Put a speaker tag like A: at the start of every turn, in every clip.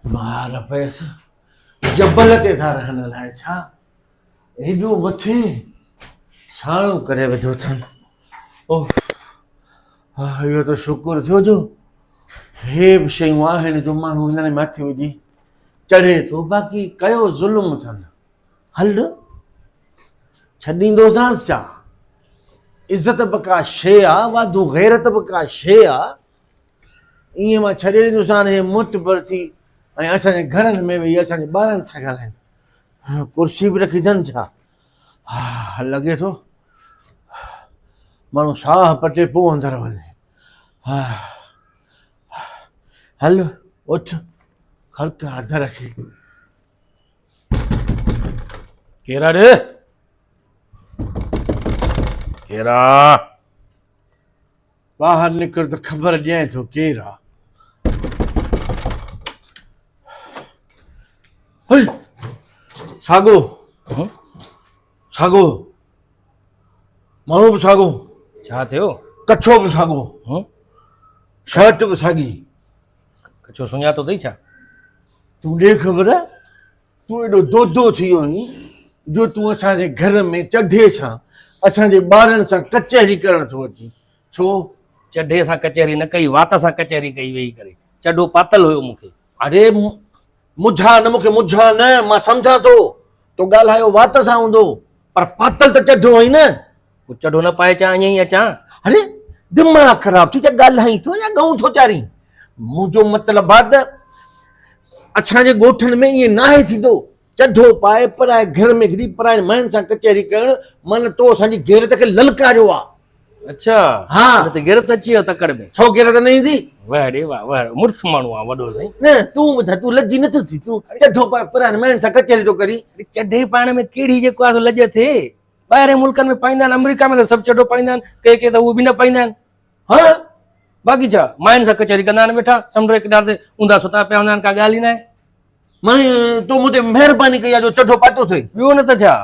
A: مار پيس جبل تي ٿا رهن لاء ڇا هيڏو مٿي ساڻو ڪري وڌو ٿن او ها اهو ته شڪر ٿيو جو هي به شيون آهن جو ماڻهو هنن مٿي وجي چڙهي ٿو باقي ڪيو ظلم اٿن هل ڇڏيندوسانس ڇا عزت به ڪا شيء آ واڌو غيرت به ڪا شيء آ ايئن مان ڇڏي ڏنس هاڻ هي معتبر ٿي ۽ اسان جي گهرن ۾ ويهي اسان جي ٻارن سان ڳالهائين ڪرسي به رکي اٿن ڇا ها لڳي ٿو ماڻهو ساهه پٽي پوء اندر وڃي ها هل اٿ خلق هٿ رکي
B: ڪيرا ڏي ڪيرا
A: ٻاهر نڪر ته خبر ڏينء ٿو ڪير آ. هئي! ساڳو! ساڳو! ماڻهو به ساڳو. ڇا ٿيو؟
B: ڪڇو به ساڳو.
A: شرٽ به ساڳي. ڪڇو
B: سڃاتو اٿئي ڇا؟ تون ڏي
A: خبر. تون ايڏو دودو ٿي ويو آهين جو تون اسان جي گهر ۾ چڍي سان اسان جي ٻارن سان ڪچهري ڪرڻ ٿو اچين. ڇو؟ چڍي سان
B: ڪچهري نه ڪئي، وات سان ڪچهري ڪئي ويهي ڪري. چڍو پاتل هيو مون کي. اڙي
A: مجها نه مون کي مجها نه، مان سمجهان ٿو تو ڳالهايو وات سان هوندو پر پاتل ته چڍو هئين نه. چڙو نه پائي
B: اچان ائين ئي اچان اري
A: دماغ خراب ٿي ته ڳالهائين ٿو يا ڳئون ٿو چارين منهنجو مطلب آ ته اسان جي ڳوٺن ۾ ائين ناهي ٿيندو چڍو پائي پرائي گهر ۾ گهڙي پرائين ماين سان ڪچهري ڪرڻ من تو اسان جي غيرت کي للڪاريو آ اچھا
B: ها ته
A: غيرت اچي ويو
B: تڪڙ ۾ ڇو غيرت نه ايندي
A: واهه ڙي واهه واهه
B: مڙس ماڻهو آ وڏو سائين نه تون ٻڌاء تون
A: لڄي نه ٿو ٿي تون چڍو پائي پرائين ماين سان ڪچهري ٿو ڪرين چڍي پائڻ ۾
B: ڪهڙي جيڪو آ سو لڄ اٿئي ٻاهرين ملڪن ۾ پائيندا آهن آمريڪا ۾ ته سڀ چڊو پائيندا آهن ڪي ڪي ته اهو به نه پائيندا آهن ها
A: باقي ڇا
B: ماين سان ڪچهري ڪندا آهن ويٺا سمنڊ جي ڪنار تي اونداهه ستا پيا هوندا آهن ڪا ڳالهه ئي ناهي ماين
A: تو مون تي مهرباني ڪئي آهي جو چڊو پاتو اٿئي ٻيو نه ته ڇا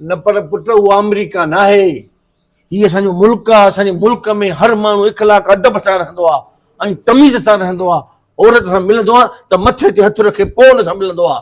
B: نه پر
A: پٽ اهو آمريڪا ناهي هي اسان جو ملڪ آهي اسان جي ملڪ ۾ هر ماڻهو اخلاق ادب سان رهندو آهي ۽ تميز سان رهندو آهي عورت سان ملندو آهي ته مٿي تي هٿ رکي پوء ان سان ملندو آهي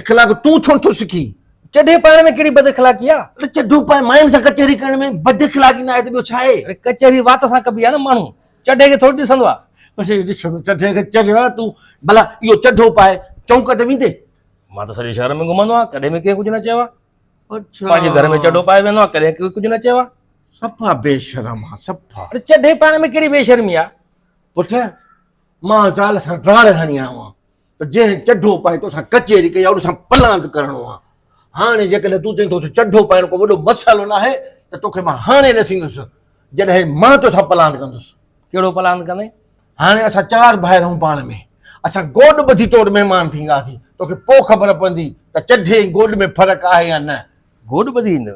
B: اخلاق تون ڇو
A: نٿو سکين؟ چڍي پائڻ ۾
B: ڪهڙي بد اخلاقي آ؟ اڙي چڍو پائي ماين
A: سان ڪچهري ڪرڻ ۾ بد اخلاقي ناهي ته ٻيو ڇا آهي؟ اڙي ڪچهري وات سان
B: ڪبي آ نه ماڻهو چڍي کي ٿوري ڏسندو آ. اڙي ڏسندو چڍي کي
A: چريو آ تون ڀلا اهو چڍو پائي چونڪ تي ويندي؟ مان ته سڄي شهر
B: ۾ گهمندو آهيان ڪڏهن به ڪنهن ڪجهه نه چيو آ. اڇا. پنهنجي
A: گهر ۾ چڍو پائي
B: ويهندو آهيان ڪڏهن ڪوئي ڪجهه نه چيو آ. صفا بي
A: شرم آ صفا. اڙي چڍي پائڻ ۾ ڪهڙي
B: بي شرمي آ؟ پٽ
A: مان زال سان ڊاڙ هڻي آيو آهيان ته جنهن چڍو پائي تو سان ڪچهري ڪئي ان سان پلاند ڪرڻو آ هاڻي جيڪڏهن تون چئين ٿو ته چڍو پائڻ ڪو وڏو مسئلو نه آهي ته توکي مان هاڻي نه سيندس جڏهن مان تو سان پلاند ڪندس ڪهڙو پلاند ڪندين
B: هاڻي اسان چار
A: ڀائر آهيون پاڻ ۾ اسان گوڏ ٻڌي تو وٽ مهمان ٿينداسين توکي پوء خبر پوندي ته چڍي ۽ گوڏ ۾ فرق آهي يا نه گوڏ ٻڌي ايندو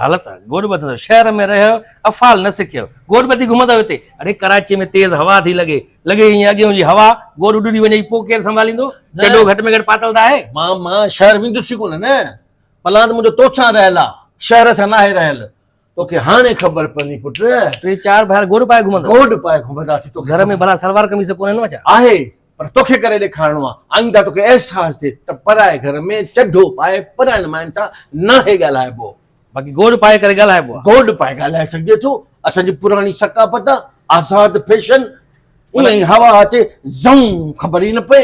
B: حالت
A: آ گوڏ
B: ٻڌندو شهر ۾ رهيو افعال نه سکيو گوڏ ٻڌي گهمندو هتي اڙي ڪراچي ۾ تيز هوا ٿي لڳي لڳي ائين اڳيون جي هوا گوڏ اڏري وڃي پو ڪير سنڀاليندو چڏو گهٽ ۾ گهٽ پاتل ته آهي مان مان شهر ويندس
A: ئي ڪونه نه پلاند منهنجو توسان رهيل آ شهر سان ناهي رهيل توکي هاڻي خبر پوندي پٽ ٽي چار ڀائر گوڏ
B: پائي گهمندا گوڏ پائي گهمنداسي
A: تو گهر ۾ بلا سلوار قميص
B: ڪونه نو اچا آهي پر توکي
A: ڪري ڏيکارڻو آ آئنده توکي احساس ٿي ته پرائي گهر ۾ چڍو پائي پرائين ماين سان ناهي ڳالهائبو باقي گوڏ پائي
B: ڪري ڳالهائبو آ گوڏ پائي ڳالهائي سگهجي
A: ٿو اسان جي پراڻي ثقافت آ آزاد فيشن ائين هوا اچي زئون خبر ئي نه پئي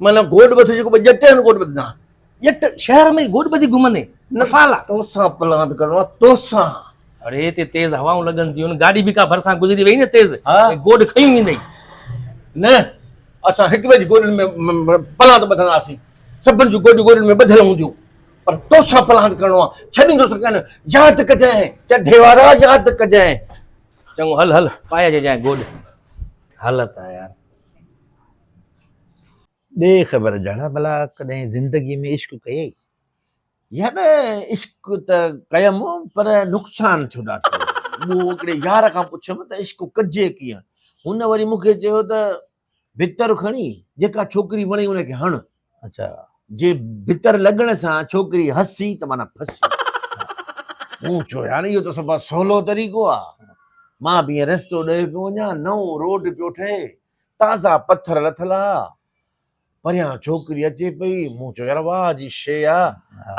B: معنيٰ گوڏ ٻڌ
A: جيڪو ٻه ڄٽ آهن گوڏ ٻڌندا آهن. ڄٽ
B: شهر
A: ۾
B: گوڏ ٻڌي
A: گهمندين.
B: افعالا. توسان
A: پلاند
B: ڪرڻو آهي
A: توسان.
B: اڙي هتي تيز هوائون لڳن ٿيون گاڏي به ڪا ڀرسان گذري وئي نه تيز ۽ گوڏ کنيون
A: ويندئي
B: نه
A: اسان هڪ ٻئي جي گوڏن ۾ پلاند ٻڌنداسين سڀن جون گوڏيون گوڏن ۾ ٻڌل هونديون پر توسان پلاند ڪرڻو آهي ڇڏيندوسان ڪانه ياد ڪجانء چڍي وارا ياد ڪجانء چڱو هل
B: هل پايجي جانء گوڏ هل ته يار.
C: ڏي خبر جهڙا ڀلا ڪڏهن زندگيء ۾ عشق ڪيئي؟ يا
A: نه عشق ته ڪيم پر نقصان ٿيو ڏاڍو. مون هڪڙي يار کان پڇيم ته عشق ڪجي ڪيئن؟ هن وري مون کي چيو ته ڀتر کڻي جيڪا ڇوڪري وڻي ان کي هڻ. اچا.
C: جي
A: ڀتر لڳڻ سان ڇوڪري هسي ته معنيٰ ڦسي. مون چيو يار اهو ته سڀ کان سولو طريقو آ. مان به ائين رستو ڏوهي پيو وڃان، نئون روڊ پيو ٺهي. تازا پٿر لٿل آ. پريان ڇوڪري اچي پئي، مون چيو يار واهه جي شيء آ،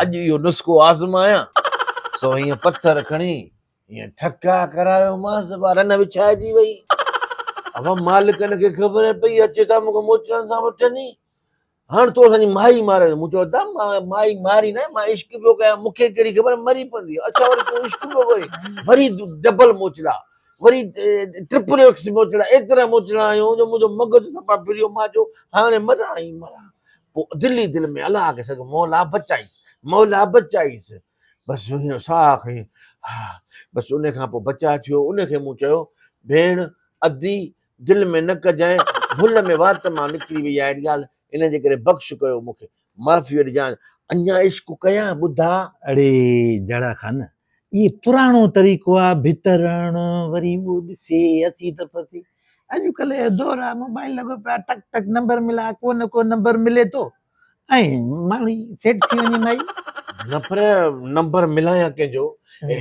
A: اڄ اهو نسخو آزمايان. سو هيئن پٿر کڻي هيئن ٺڪا ڪرايومانس، وا رن وڇائجي وئي. وا مالڪن کي خبر پئي، اچي ٿا مون کي موچڙن سان وٺن ئي. هاڻ تو اسان جي مائي ماريو. مون چيو ادا مان مائي ماري ناهي مان عشق پيو ڪيان مون کي ڪهڙي خبر مري پوندي اڇا وري تون عشق پيو ڪرين وري ڊبل موچڙا وري ٽرپل ايڪس موچڙا ايترا موچڙا هيون جو منهنجو مغز سفا ڦريو مان چيو هاڻي مران ۽ مران پو دل ئي دل ۾ الله کي سگهه مولا بچائيس مولا بچائيس بس هيئن ساهه کي بس ان کان پو بچا ٿيو ان کي مون چيو ڀيڻ ادي دل ۾ نه ڪجانء، ڀل ۾ وات مان نڪري وئي آهي اهڙي ڳالهه، ان جي ڪري بخش ڪيو مون کي، معافيء ڏجانء، اڃا عشق ڪيان ٻڌا. اڙي
C: جهڙا خان، اهي پراڻو طريقو آ، ڀت رئڻ، وري اهو ڏسي اسي ته ڦسي، اڄڪلهه جو دور آ، موبائل لڳو پيو آ، ٽڪ ٽڪ نمبر ملا، ڪو نه ڪو نمبر ملي ٿو. ۽ ماڻهي سيٽ ٿي وڃي مائي. نفر
A: نمبر ملايان ڪنهن جو.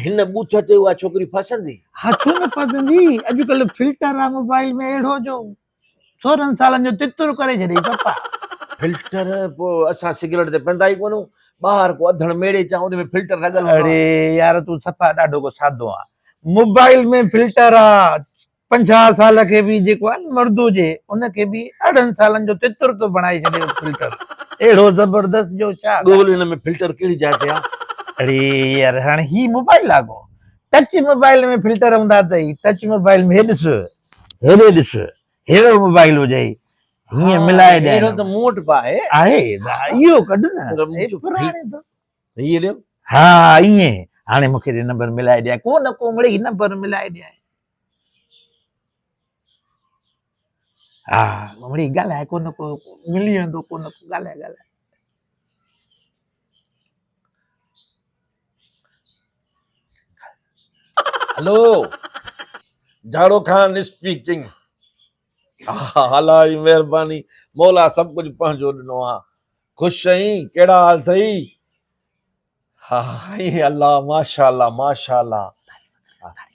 A: هن ٻوٿ تي اها ڇوڪري ڦاسندي. ها ڇو نه ڦاسندي
C: اڄڪلهه فلٽر آ موبائل ۾ اهڙو جو سورهن سالن جو تتر ڪري ڇڏي پپا. فلٽر
A: پو اسان سگريٽ تي پيندا ئي ڪونه ٻاهر ڪو اڌڻ ميڙي چا ان ۾ فلٽر لڳل هوندو آ. اڙي يار تون
C: صفا
A: ڏاڍو
C: ڪو سادو آ موبائل ۾ فلٽر آ. پنجاهه سال کي به جيڪو آهي نه مرد هجي ان کي به ارڙهن سالن جو تتر ٿو بڻائي ڇڏي اهو فلٽر اهڙو زبردست جو ڇا ڳول هن ۾ فلٽر
A: ڪهڙي جاء تي آ. اڙي يار
C: هاڻي هي موبائل آ ڪو ٽچ موبائل ۾ فلٽر هوندا اٿئي ٽچ موبائل ۾ هي ڏس هيڏي ڏس هيڙو موبائل هجئي هيئن ملائي ڏيائين هيڙو ته مون وٽ به آهي
A: آهي اهو
C: ڪڍ نه پراڻي اٿس هيء ڏيو
A: ها ايئن
C: هاڻي مون کي نمبر ملائي ڏيائين ڪو نه ڪو مڙئي نمبر ملائي ڏيائين ها مڙي ڳالهاء ڪو نه ڪو ملي ويندو ڪو نه ڪو ڳالهاء ڳالهاء
A: هلو جاڙو خان اسپيڪنگ ها الائي مهرباني مولا سڀ ڪجهه پنهنجو ڏنو آهي خوش آهين ڪهڙا حال اٿئي ها هائي الله ماشاءالله ماشاءالله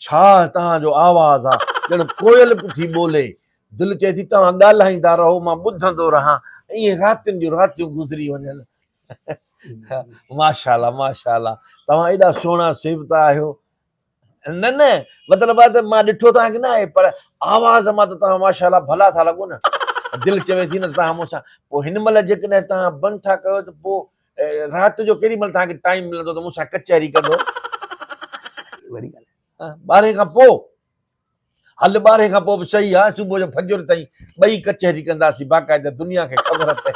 A: ڇا توهان جو آواز آ ڄڻ ڪوئل پي ٿي ٻولي دل چئي ٿي توهان ڳالهائيندا رهو مان ٻڌندو رهان ائين راتين جون راتيون گذري وڃن ماشاءالله ماشاءالله توهان ايڏا سهڻا سيبتا آهيو نه نه مطلب آ ته مان ڏٺو توهان کي نه آهي پر آواز مان ته توهان ماشاء الله ڀلا ٿا لڳو نه دل چوي ٿي نه ته توهان مون سان پوء هن مهل جيڪڏهن توهان بند ٿا ڪيو ته پوء رات جو ڪيڏي مهل توهان کي ٽائيم ملندو ته مون سان ڪچهري ڪندو
C: وڏي ڳالهه آهي ٻارهين کان پوء
A: هل ٻارهين کان پوء به صحيح آ صبح جو فجر تائين ٻئي ڪچهري ڪنداسين باقاعده دنيا کي خبر پئي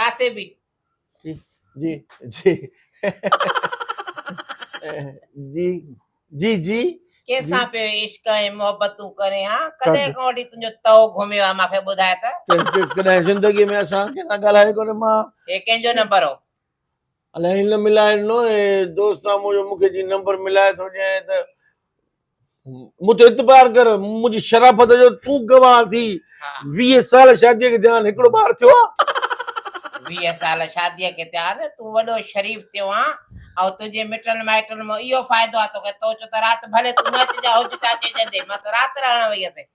D: ڪاتي به جي
A: جي جي جي جي ڪيسان پيو
D: عشق ۽ محبتون ڪرين ها ڪڏهن کان وٺي تنهنجو تئو گهميو آ ماکي ٻڌاء ته ڪڏهن زندگي ۾
A: اسان ڪنهن سان ڳالهايو ڪونه مان هي ڪنهن جو نمبر هو
D: الاهي نه
A: ملائي ڏنو اي دوستان منهنجو مونکي جي نمبر ملائي ٿو ڏينء ته مون تي اعتبار ڪر، منهنجي شرافت جو تون گواهه ٿي. ويهه
D: سال شاديء
A: کي ٿيان، هڪڙو ٻار ٿيو آ؟ ويهه
D: سال شاديء کي ٿيان، تون وڏو شريف ٿيو آن، ۽ تنهنجي مٽن مائٽن مان اهو فائدو آ توکي، تو چون ته رات ڀلي تون نه اچجان، هج چاچي جنڏي، مان ته رات رهڻ وئي هيس.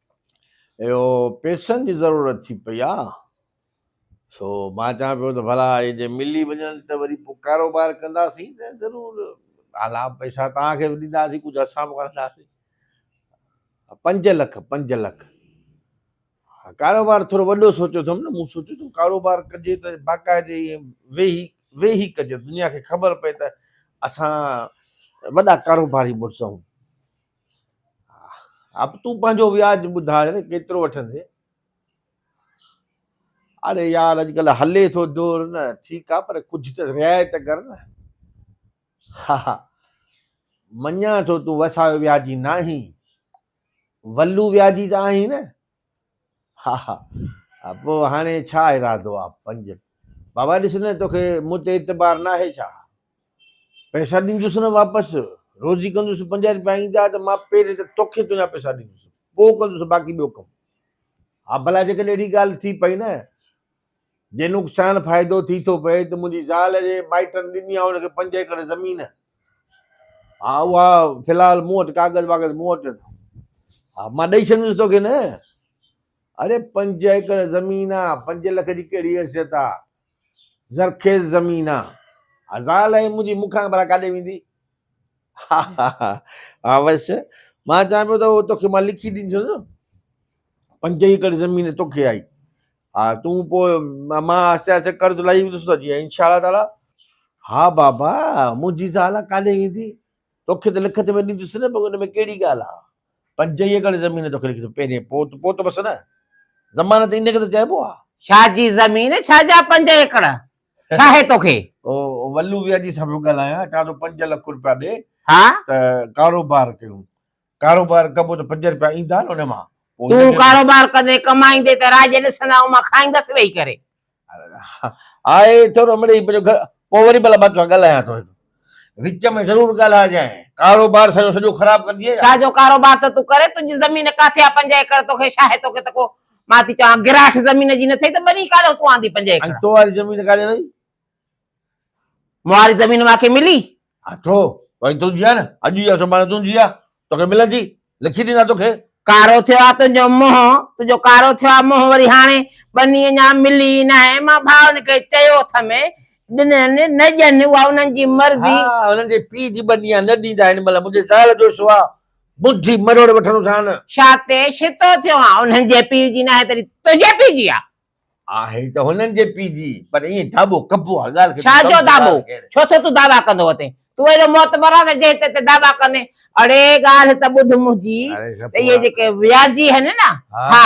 A: اهو پيسن جي ضرورت ٿي پئي آ سو مان چوان پيو ته ڀلا اهي جي ملي وڃن ته وري پوء ڪاروبار ڪنداسين ته ضرور اعليٰ پئسا توهان کي به ڏينداسين ڪجهه اسان به وڻنداسين پنج لک پنج لک ها ڪاروبار ٿورو وڏو سوچيو اٿم نه مون سوچيو ته ڪاروبار ڪجي ته باقاعدي ويهي ويهي ڪجي دنيا کي خبر پئي ته اسان وڏا ڪاروباري مڙس آهيون اب تون پنهنجو وياج ٻڌاء نه ڪيترو وٺندين. اڙي يار اڄڪلهه هلي ٿو دور نه ٺيڪ آ پر ڪجهه ته رعايت ڪر نه. ها ها مڃان ٿو تون وسايو وياجي ناهين ولو وياجي ته آهين نه. ها ها ها پوء هاڻي ڇا ارادو آ؟ پنج، بابا ڏس نه توکي مون تي اعتبار ناهي ڇا؟ پئسا ڏيندس نه واپس، روزي ڪندس پنجاهه رپيا ايندا ته مان پهرين ته توکي تنهنجا پئسا ڏيندس، پوء ڪندس باقي ٻيو ڪم. ها ڀلا جيڪڏهن اهڙي ڳالهه ٿي پئي نه. جي نقصان فائدو ٿي ٿو پئي ته منهنجي زال جي مائٽن ڏني آهي ان کي پنج ايڪڙ زمين ها اها في الحال مون وٽ ڪاغذ واغذ مون وٽ ها مان ڏئي ڇڏيندس توکي نه اڙي پنج ايڪڙ زمين آهي پنج لک جي ڪهڙي حيثيت آهي زرخيز زمين آهي زال آهي منهنجي مون کان ڀلا ڪاڏي ويندي ها ها ها ها بس مان چوان پيو ته توکي مان لکي ڏيندس پنج ايڪڙ زمين توکي آئي ها تون پوء مان آهستي آهستي قرض لاهي ويندس ته جي انشاء الله تعاليٰ. ها بابا منهنجي زال ڪاڏي ويندي توکي ته لکت ۾ ڏيندس نه ان ۾ ڪهڙي ڳالهه آ پنج هي ڪڙ زمين توکي لکت پهرين پوت پوت بس نه ضمانت ان کي ته چئبو آ. ڇا جي زمين
D: ڇا جا پنج هي ڪڙ ڇا هي توکي. او ولو
A: ويا جي سان پيو ڳالهايان چان ٿو پنج لک روپيا ڏي ته
D: ڪاروبار
A: ڪيون ڪاروبار ڪبو ته پنج رپيا ايندا نه ان مان پوء هن تون کي ڪاروبار ڪندين ڪمائيندين
D: ته راڄ ڏسندين ۽ مان کائيندس ويهي ڪري.
A: آء ٿورو مڙيئي پنهنجو گهر پوء وري ڀلا مان تون سان ڳالهايان ٿو. وچ ۾ ضرور ڳالهائجانء. ڪاروبار سڄو سڄو خراب ڪندينء ڇا؟ ڇاجو ڪاروبار ٿو تون
D: ڪرين؟ تنهنجي زمين ڪاٿي آ پنج ايڪڙ توکي ڇا آهي توکي ته ڪو مان ٿي چوان گراٺ زمين جي نه ٿئي ته ٻني ڪاڏئون تون آندي پنج ۽ ايڪڙ. تو واري زمين ڪاڏي وئي؟
A: مهاري
D: زمين مان کي ملي. ها ڇو؟
A: وڃ تنهنجي آهي نه، اڄ جي آهي سڀاڻي تنهنجي آهي، توکي ملندي، لکي ڏيندا توکي. ڪارو ٿيو آهي
D: تنهنجو منهن، تنهنجو ڪارو ٿيو آهي منهن وري هاڻي ٻني اڃا ملي ئي ناهي، مان ڀائن کي چيو اٿم، ڏنن نه ڏين اها انهن جي مرضي. ها انهن جي پيء
A: جي ٻني آهي، نه ڏيندا هن مهل منهنجي زال جو سوا ٻڌي مروڙ وٺندوسان. شاتي شتو
D: ٿيو آهان، انهن جي پيء جي ناهي تڏهن تنهنجي پيء جي آهي. آهي ته
A: هنن جي پي جي پر ائين دابو ڪبو آهي ڳالهه کي ڇا جو دابو
D: ڇو ٿو تون دعوا ڪندو اتي تون اهڙو معتبر آهي جنهن تي ته دعوا ڪندين اڙي ڳالهه ته ٻڌ منهنجي ته اهي جيڪي وياجي آهن نه ها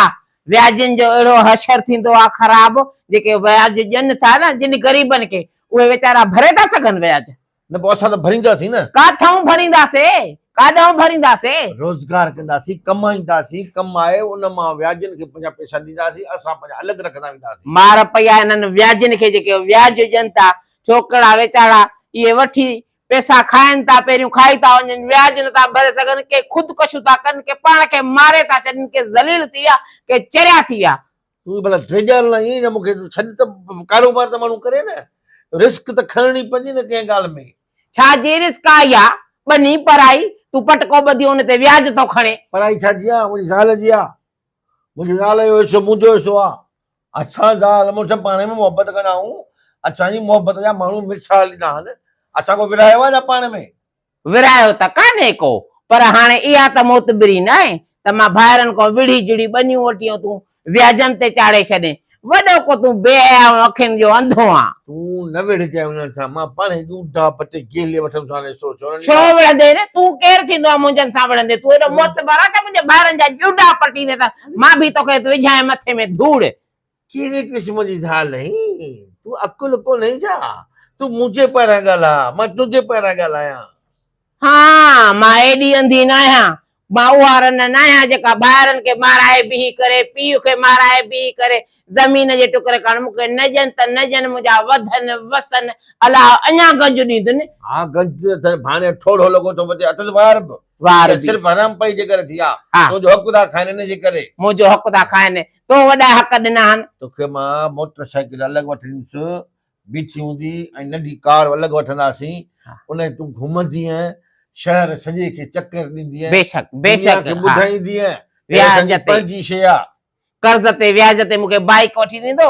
D: وياجين جو اهڙو حشر ٿيندو آهي خراب جيڪي وياج ڏين ٿا نه جن غريبن کي اهي ويچارا ڀري ٿا سگهن وياج. نه پوء اسان ته
A: ڀرينداسين نه. ڪاٿئون ڀرينداسين؟
D: ڪاڏئون ڀرينداسين؟ روزگار ڪنداسين،
A: ڪمائينداسين، ڪمائي ان مان وياجين کي پنهنجا پئسا ڏينداسين، اسان پنهنجا الڳ رکندا وينداسين. مار پئي آهي انهن
D: وياجين کي جيڪي وياج ڏين ٿا، ڇوڪرا ويچارا اهي وٺي پئسا کائن ٿا، پهريون کائي ٿا وڃن، وياج نه ٿا ڀري سگهن، ڪي خودڪشيون ٿا ڪن، ڪي پاڻ کي ماري ٿا ڇڏين، ڪي ذليل ٿي ويا، ڪي چريا ٿي ويا. تون ڀلا ڊيڄاري
A: لاء ائين نه مون کي ڇڏ ته ڪاروبار ته ماڻهو ڪري نه رسڪ ته کڻڻي پوندي نه ڪنهن ڳالهه ۾. ڇا جي رسڪ آ
D: اها ٻني پرائي تون پٽڪو ٻڌي ان تي وياج ٿو کڻي. پرائي ڇا جي آ منهنجي
A: زال جي آ منهنجي زال جو حصو منهنجو حصو آ اسان زال مڙس پاڻ ۾ محبت ڪندا آهيون اسان جي محبت جا ماڻهو مثال ڏنا آهن اسان ڪو ورهايو آ ڇا پاڻ ۾. ورهايو ته
D: ڪانهي ڪو، پر هاڻي اها ته معتبري ناهي ته مان ڀائرن کان وڙهي جڙهي ٻنيون وٺيون تون وياجن تي چاڙهي ڇڏين. وڏو ڪو تون بي حيا ۽ اکين جو انڌو آن. تون نه وڙهجانء
A: انهن سان، مان پاڻ هي ڏوندا پٽي گيلي وٺندس، هاڻي سوچ هنن ڇو لاء. وڙهندين نه،
D: تون ڪير ٿيندو آهين منهنجن سان وڙهندين، تون هيڏو معتبر آهين ڇا منهنجي ڀائرن جا ڏوندا پٽيندين ته مان به توکي وجهانء مٿي ۾ ڌوڙ. ڪهڙي قسم
A: جي زال آهين؟ تون عقل ڪونهي ڇا؟ تون مون جي پاران ڳالهاء، مان تنهنجي پاران ڳالهايان. ها،
D: مان ايڏي انڌي ناهيان. مان اها رنه ناهيان جيڪا ڀائرن کي مارائي بيهي ڪري، پيء کي مارائي بيهي ڪري، زمين جي ٽڪري کڻ مون کي نه ڏين ته نه ڏين، منهنجا وڌن وسن، الله اڃا گنج ڏيندن. ها، گنج نه اٿس،
A: ڀاڻيو ٺوڙهو لڳو ٿو وڌي، اٿس وار به. وار به. صرف
D: حرامپائي جي ڪري ٿي
A: آ. ها. تنهنجو حق ٿا کائن،
D: ان
A: جي ڪري. منهنجو حق ٿا کائن،
D: تو وڏا حق ڏنا آهن. توکي مان موٽر
A: سائيڪل الڳ وٺي ڏيندس، بيٺي هوندي ۽ ننڍي ڪار الڳ وٺنداسين، انهيء تون گهمندينء، شهر سڄي کي چڪر ڏيندينء، بيشڪ، بيشڪ، دنيا کي
D: ٻڌائيندينء ته هيء اسان
A: جي
D: پنهنجي شيء آ.
A: قرض تي،
D: وياج تي مون کي بائيڪ وٺي ڏيندو،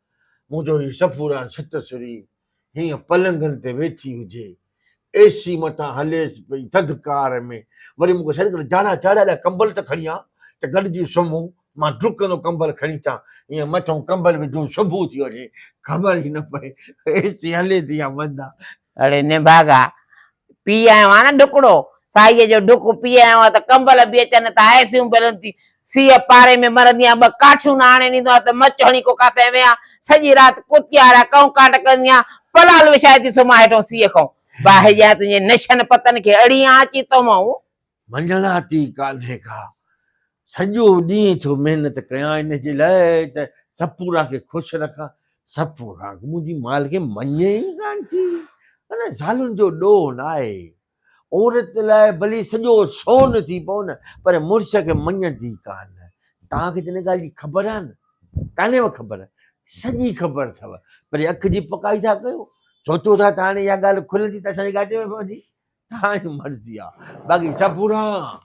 A: منهنجو هي صفورا ڇت سري هيئن پلنگن تي ويٺي هجي، اي سي مٿان هليس پئي، ٿڌڪار ۾ وري مون کي سڏ ڪري جاڙا جاڙا الائي ڪمبل ته کڻي آ ته گڏجي سمهون، مان ڊرڪندو ڪمبل کڻي اچان، هيئن مٿئون ڪمبل وجهون سڀو ٿي وڃي، خبر ئي نه پئي اي سي هلي ٿي يا بند آ، اڙي نڀاڳا،
D: پي آيو آهيان نه ڍڪڙو، ساهيء جو ڍڪ پي آيو آهيان ته ڪمبل به اچن ٿا، اي سيون بلند ٿي، سيء پاري ۾ مرندي آهيان، ٻه ڪاٺيون نه آڻي ڏيندو آهيان ته مچ هڻي ڪوڪا تي ويهان، سڄي رات ڪتيا وارا ڪئون ڪاٽ ڪندي آهيان، پلال وڇائي ٿي سمهان هيٺئون سيء کان، باهه ڄائي تنهنجي نشن پتن کي اڙي آنچي تومئون. منجهناٿي
A: ڪانهي ڪا، سڄو ڏينهن ٿو محنت ڪيان ان جي لاء ته سپورا کي خوش رکان، سپورا منهنجي مالڪي مڃي ئي ڪانه ٿي، ان زالن جو ڏوهه ناهي، عورت لاء ڀلي سڄو سون ٿي پئو نه پر مڙس کي مڃيندي ڪانه، توهان کي ته ان ڳالهه جي خبر آهي نه، ڪانهيو خبر، سڄي خبر اٿو، پري اک جي پڪائي ٿا ڪيو، سوچو ٿا ته هاڻي اها ڳالهه کلندي ته اسان جي ڳاٽي ۾ پوندي، تانجي مرضي آ باقي سفوران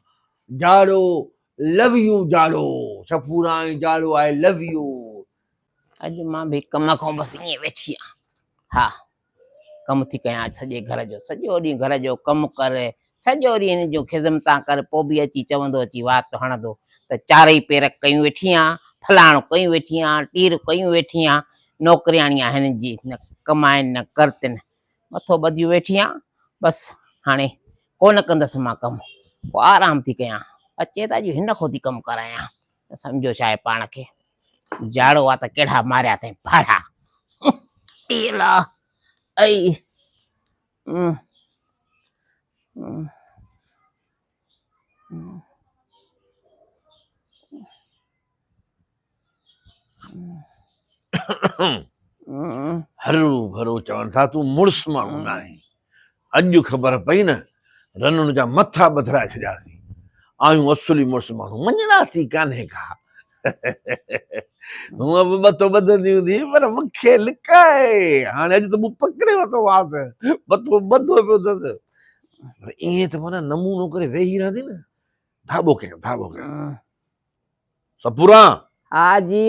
A: جاڙو لو يو جاڙو سفوران جاڙو آء لو يو. اڄ
D: مان به ڪم کان بس ائين ويٺي آهيان ها ڪم ٿي ڪيان اڄ سڄي گهر جو سڄو ڏينهن گهر جو ڪم ڪر سڄو ڏينهن هن جون خدمتان ڪر پوء به اچي چوندو اچي وات هڻندو ته چارئي پير ڪيون ويٺي آهيان فلاڻو ڪيون ويٺي آهيان ٽير ڪيون ويٺي آهيان نوڪرياڻي آهن جي نه ڪمائن نه ڪرتن مٿو ٻڌيو ويٺي آهيان بس هاڻي ڪونه ڪندس مان ڪم پوء آرام ٿي ڪيان اچي ته اڄ هن کان ٿي ڪم ڪرايان ته سمجهيو ڇا آهي پاڻ کي جاڙو آ ته ڪهڙا ماريا اٿئي ڀاڙا ٽيلا اي
A: هرو ڀرو چون ٿا تون مڙس ماڻهو ناهين اڄ خبر پئي نه رنن جا مٿا ٻڌرائي ڇڏياسين آيون اصولي مڙس ماڻهو مڃڻا ٿي ڪانهي ڪا هونء به بتو ٻڌندي هوندي پر مون کي لڪائي هاڻي اڄ ته مون پڪڙي ورتو آس بتو ٻڌو پيو اٿس پر ائين ته مانا نمونو ڪري ويهي رهندي نه ڌاٻو ڪيان ڌاٻو ڪيان سپورا ها
D: جي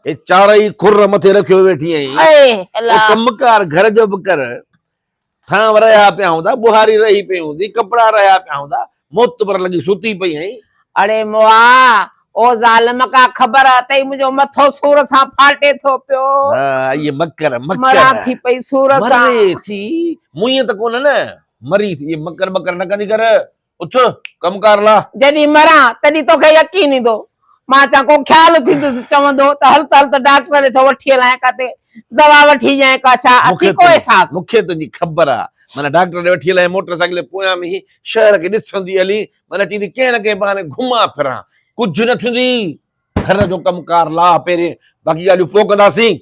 D: اي چارئي
A: خر مٿي رکيو ويٺي آهين اي الا ڪم ڪار گهر جو به ڪر ٿان رهيا پيا هوندا بهاري رهي پئي هوندي ڪپڙا رهيا پيا هوندا موت پر لڳي ستي پئي آهين اڙي موا
D: او ظالم ڪا خبر اٿئي منهنجو مٿو سور سان ڦاٽي ٿو پيو. ها اهي مڪر
A: مڪر. مران ٿي پئي
D: سور سان. مري ٿي
A: موئين ته ڪونه نه. مري ٿي اهي مڪر مڪر نه ڪندي ڪر اٿ ڪم ڪار لا. جڏهن مران تڏهن
D: توکي يقين ايندو. مان چان ڪو خيال ٿيندس چوندو ته هل ته هل ته ڊاڪٽر ڏي ٿو وٺي هلانء ڪاتي دوا وٺي ڏيانء ڪا ڇا اٿئي ڪو احساس. مونکي تنهنجي خبر
A: آ. معنيٰ ڊاڪٽر ڏي وٺي هلانء موٽر سائيڪل جي پويان ۾ هي شهر کي ڏسندي هلين معنيٰ چيندي ڪنهن نه ڪنهن بهاني گهمان ڦران، ڪجهه نه ٿيندي، گهر جو ڪم ڪار لاهه پهرين، باقي ڳالهيون پوء ڪنداسين.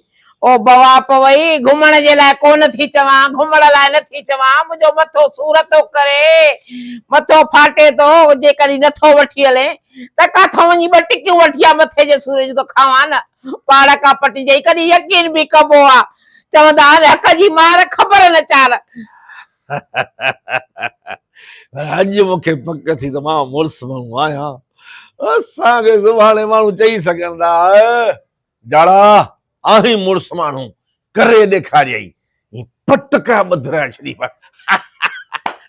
A: او بوا
D: پوئي، گهمڻ جي لاء ڪو نه ٿي چوان، گهمڻ لاء نه ٿي چوان، منهنجو مٿو سور ٿو ڪري، مٿو ڦاٽي ٿو، جيڪڏهن نه ٿو وٺي هلين ته ڪاٿو وڃي ٻه ٽڪيون وٺي آ مٿي جي سور جون ته کاوان نه، پاڙ ڪا پٽي جئي ڪڏهن يقين به ڪبو آ، چوندا آهن حق جي مار خبر نه چار،
A: پر اڄ مون کي پڪ ٿي ته مان مڙس ماڻهو آهيان اسان کي سڀاڻي ماڻهو چئي سگهن ٿا جاڙا آهين مڙس ماڻهو ڪري ڏيکاريائي پٽ ڪا ٻڌ رهي ڇڏي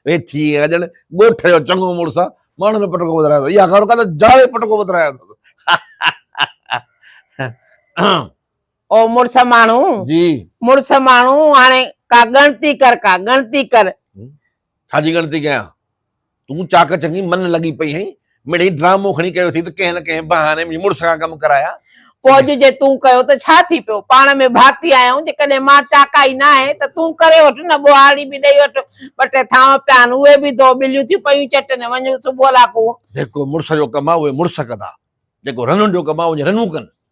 A: ويٺي ڄڻ ڳوٺ جو چڱو مڙس آ ماڻهن جو پٽڪو ٻڌرايو اٿس اها خبر ڪا ته جاڙي پٽڪو ٻڌرايو اٿس
D: او مڙس ماڻهو جي مڙس
A: ماڻهو
D: هاڻي ڪا ڳڻتي ڪر ڪا ڳڻتي ڪر. ڇا جي
A: ڳڻتي ڪيان؟ تون چاڪ چڱي من لڳي پئي هئين، مڙئي ڊرامو کڻي ڪيو اٿئي ته ڪنهن نه ڪنهن بهاني منهنجي مڙس کان ڪم ڪرايا. ڪوڄ جي تون
D: ڪيو ته ڇا ٿي پيو، پاڻ ۾ ڀاتي آهيون، جيڪڏهن مان چاڪائي ناهي ته تون ڪري وٺ نه ٻوهارڙي به ڏئي وٺ، ٻه ٽي ٿانو پيا آهن اهي به ڌو، ٻليون ٿيون پيون چٽن، وڃ صبح لاکون. جيڪو مڙس جو
A: ڪم آهي اهي مڙس ڪندا، جيڪو رنن جو ڪم آهي اهي رنون ڪن.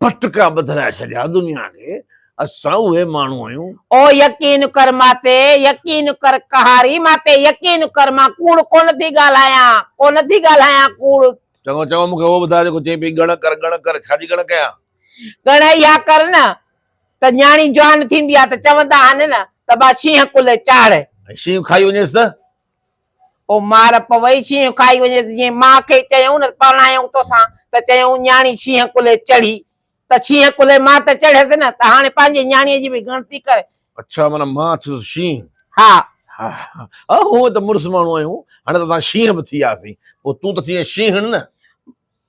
A: پٽڪا ٻڌرائي ڇڏيا دنيا کي، اسان اهي ماڻهو آهيون. او يقين
D: ڪر مان تي، يقين ڪر قهاري مان تي، يقين ڪر مان ڪوڙ ڪونه ٿي ڳالهايان، ڪونه ٿي ڳالهايان ڪوڙ. چڱو چڱو مون کي اهو
A: ٻڌاء جيڪو چئين پئي ڳڻ ڪر ڳڻ ڪر، ڇا جي ڳڻ ڪيان؟ ڳڻ اها
D: ڪر نه ته نياڻي جوان ٿيندي آهي ته چوندا آهن نه ته ٻا شينهن ڪلهي چاڙهه. ۽ شينهن کائي وڃيس
A: ته؟ او
D: مار پوي شينهن کائي وڃيس جيئن ماء کي چيائون نه پرڻايائون توسان ته چيائون نياڻي شينهن ڪلهي چڙهي ته شينهن ڪلهي مان ته چڙهيس نه ته هاڻي پنهنجي نياڻيء جي به ڳڻتي ڪر. اڇا معنيٰ مان
A: ٿيس شينهن. ها.
D: ها.
A: ها. هونء ته مڙس ماڻهو آهيون هاڻي ته اسان شينهن به ٿي وياسين پوء تون ته ٿينء شينهڻ نه.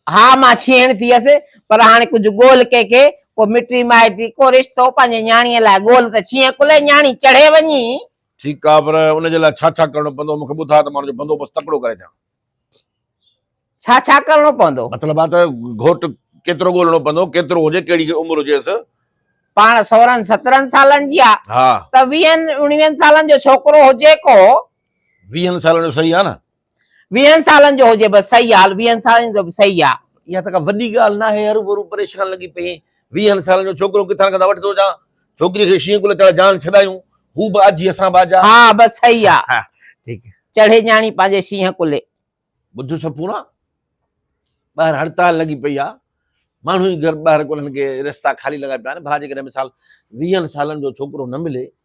A: ها
D: مان شينهڻ ٿيس پر هاڻي ڪجهه ڳول ڪنهن کي ڪو مٽي مائٽي ڪو رشتو پنهنجي نياڻيء لاء ڳول ته شينهن ڪلهي نياڻي چڙهي وڃي ٺيڪ آ پر
A: ان جي لاء ڇا ڇا ڪرڻو پوندو مون کي ٻڌاء ته مان ان جو بندوبست تڪڙو ڪري ڏيان. ڇا ڇا
D: ڪرڻو پوندو؟ مطلب آ ته
A: گهوٽ ڪيترو ڳولڻو پوندو ڪيترو هجي ڪهڙي عمر هجيس. پاڻ
D: سورهن سترهن سالن جي آ ها. ته ويهن
A: اڻويهن
D: سالن جو ڇوڪرو هجي ڪو. ويهن
A: سالن جو صحيح آ نه. ويهن سالن
D: جو هجي بس صحيح آ ويهن سالن جو به صحيح آ. اها ته ڪا وڏي ڳالهه
A: ناهي هرو ڀرو پريشان لڳي پئين ويهن سالن جو ڇوڪرو ڪٿان ڪٿان وٺي ٿو اچان ڇوڪري کي شينهن ڪلهه چڙهي
D: جان
A: ڇڏايون هو به
D: آجي
A: اسان به آجا ها
D: بس
A: صحيح آ ها ٺيڪ چڙهي
D: ڄاڻي پنهنجي شينهن ڪلهي. ٻڌ سپورا
A: ٻاهر هڙتال لڳي پئي آ ماڻهو ئي گهر ٻاهر ڪونهن ڪي رستا خالي لڳا پيا آهن ڀلا جيڪڏهن مثال ويهن سالن جو ڇوڪرو نه ملي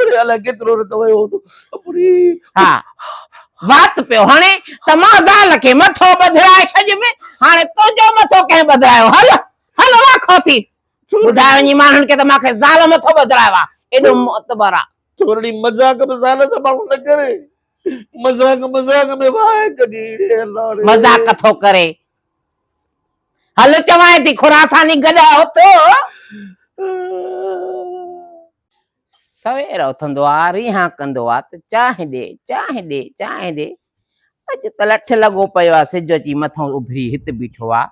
A: اڙي الائي ڪيترو رت ويو هوندو اپڙي. ها
D: وات پيو هڻي ته مان زال کي مٿو ٻڌرائي ڇڏيم هاڻي تنهنجو مٿو ڪنهن ٻڌرايو هل هل واکو ٿي ٻڌاء وڃي ماڻهن کي ته مان کي زال مٿو ٻڌرايو آ ايڏو معتبر آ. ٿورڙي مذاق
A: به زال سان ماڻهو نه ڪري مذاق مذاق ۾ واهه ڪڍي اڙي
D: الله ڙي. مذاق ٿو ڪري هل چوانء ٿي خراساني گڏهه اٿ. سوير اٿندو آ، ريهان ڪندو آ ته چانهه ڏي، چانهه ڏي، چانهه ڏي. اڄ ته لٺ لڳو پيو آ، سج اچي مٿئون اڀري هت بيٺو آ.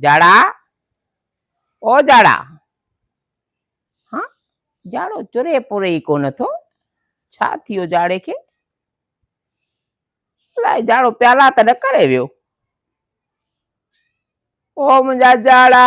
D: جاڙا! او جاڙا! ها، جاڙو چري پوري ئي ڪونه ٿو. ڇا ٿيو جاڙي کي؟ الاء جاڙو پيالا ته نه ڪري ويو. او منهنجا جاڙا!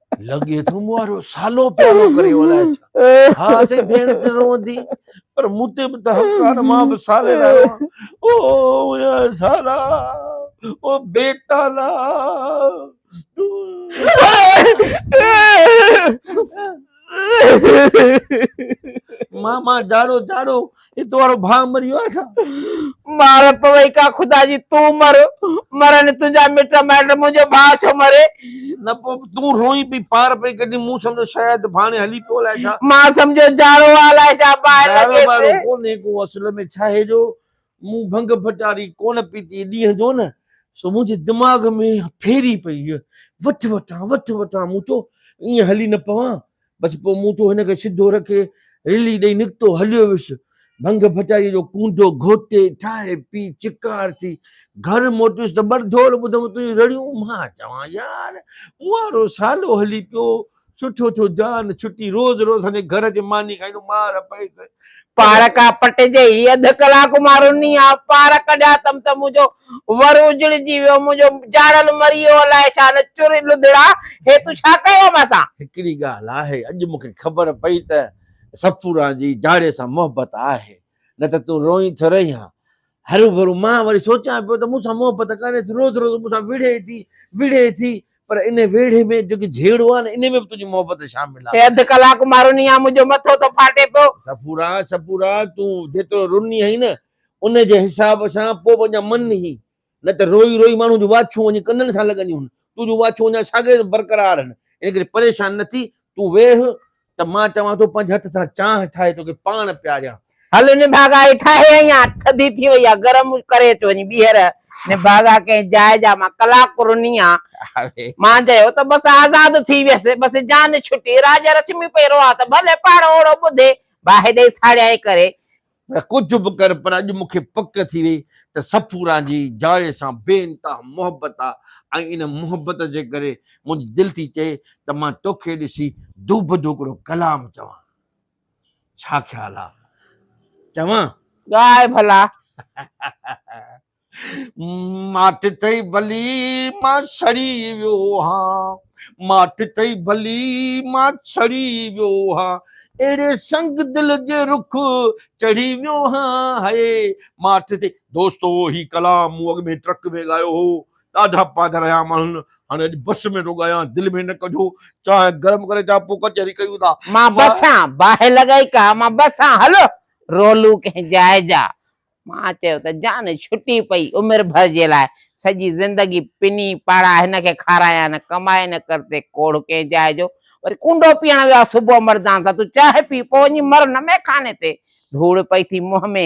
A: لڳي ٿو مون وارو سالو پيارو ڪري ولاء ڇا ها سين ڀيڻ ته روندي پر مون تي به ته حق آهي مان به سالي لاء روان او يا سالا او بي تالا ماما جاڙو جاڙو اي تو وارو ڀاء مري ويو آهي ڇا؟ مار
D: پوي کا خدا جي تون مر مرن تنهنجا مٽ مائٽ منهنجو ڀاء ڇو مري. نه پوء
A: تون روئين پئي پار پئي ڪڍين مون سمجهيو شايد ڀاڻي هلي پيو الائي ڇا. مان سمجهيو جارو
D: آ الائي ڇا باهه لڳيس. جارو ٻارو ڪونهي ڪو اصل
A: ۾ ڇاهي جو مون ڀنگ ڀٽاري ڪونه پيتي ڏينهن جو نه سو منهنجي دماغ ۾ ڦيري پئي وٺ وٺان وٺ وٺان مون چيو ائين هلي نه پوان بس پوء مون ٿو هن کي سڌو رکي رلي ڏئي نڪتو هليو ويس. ڀنگ ڀٽائيء جو ڪونڊو گهوٽي، ٺاهي پي، چڪار ٿي، گهر موٽيس ته ٻرڌول ٻڌم تنهنجون رڙيون. مان چوان يار! مون وارو سالو هلي پيو، سٺو ٿيو جان ڇٽي، روز روز سندي گهر اچي ماني کائيندو، مار پئيس. پارڪ آ
D: پٽ جي هي اڌ ڪلاڪ مان رني آ پارڪ ڄاتم ته منهنجو ور اجڙجي ويو منهنجو جاڙل مري ويو الاء ڇا نه چر لڌڙا هي تون ڇا ڪيو مون سان. هڪڙي ڳالهه آهي
A: اڄ مون کي خبر پئي ته صفوران جي جاڙي سان محبت آهي نه ته تون روئين ٿو رهين ها هروڀرو مان وري سوچيان پيو ته مون سان محبت ڪري ٿي، روز روز مون سان وڙهي ٿي، وڙهي ٿي، پر ان ويڙهي ۾ جيڪي جهيڙو آهي نه، ان ۾ به تنهنجي محبت شامل آهي. اڌ ڪلاڪ مان رني
D: آ، منهنجو مٿو ٿو ڦاٽي پيو. صفورا، صفورا،
A: تون جيترو رني آهين نه، ان جي حساب سان پوء به اڃا من هين، نه ته روئي روئي ماڻهوء جون واڇون وڃي ڪنن سان لڳنديون هن، تنهنجون واڇون اڃا ساڳيون برقرار هن، ان ڪري پريشان نه ٿي، تون ويهه، ته مان چوان ٿو پنج هٿ سان چانهه ٺاهي توکي پاڻ پياريان. هل نڀاڳا
D: هي ٺاهي ۽ آ ٿڌي ٿي وئي آ گرم ڪري اچ وڃي ٻيهر نڀاڳا ڪنهن جاء جا مان ڪلاڪ رني آ مان جيو ته بس آزاد ٿي ويس بس جان ڇٽي راڄ رشمي پئي روئان ته ڀلي پاڻ اوڙو ٻڌي باهه ڏئي ساڙيائين ڪري پر ڪجهه به
A: ڪر پر اڄ مون کي پڪ ٿي وئي ته صفورا جي جاڙي سان بي انتها محبت آ ۽ ان محبت جي ڪري منهنجي دل ٿي چئي ته مان توکي ڏسي دوبدو هڪڙو ڪلام چوان. ڇا خيال آ چوان؟ ڳاء ڀلا. ماٺ ٿئي ڀلي مان سڙي ويو هان ماٺ ٿئي ڀلي مان سڙي ويو هان اهڙي سنگ دل جي رخ چڙهي ويو هان هي ماٺ ٿئي دوستو هي ڪلام مون اڳ ۾ ٽرڪ ۾ ڳايو هو ڏاڍا پاڌر رهيا ماڻهن هاڻي اڄ بس ۾ ٿو ڳايان دل ۾ نه ڪجو چانهه گرم ڪري چا پوء ڪچهري ڪيون ٿا مان بسان
D: باهه لڳائي ڪا مان بسان هلو رولو ڪنهن جاء جا مان چيو ته جان ڇٽي پئي عمر ڀر جي لاء سڄي زندگي پني پاڙا هن کي کارايا نه ڪمائي نه ڪر تي ڪوڙ ڪنهن جاء جو وري ڪونڊو پيئڻ ويو آ صبح مردان سان تون چانهه پي پوء وڃي مر نه ميخاني تي ڌوڙ پئي ٿي منهن ۾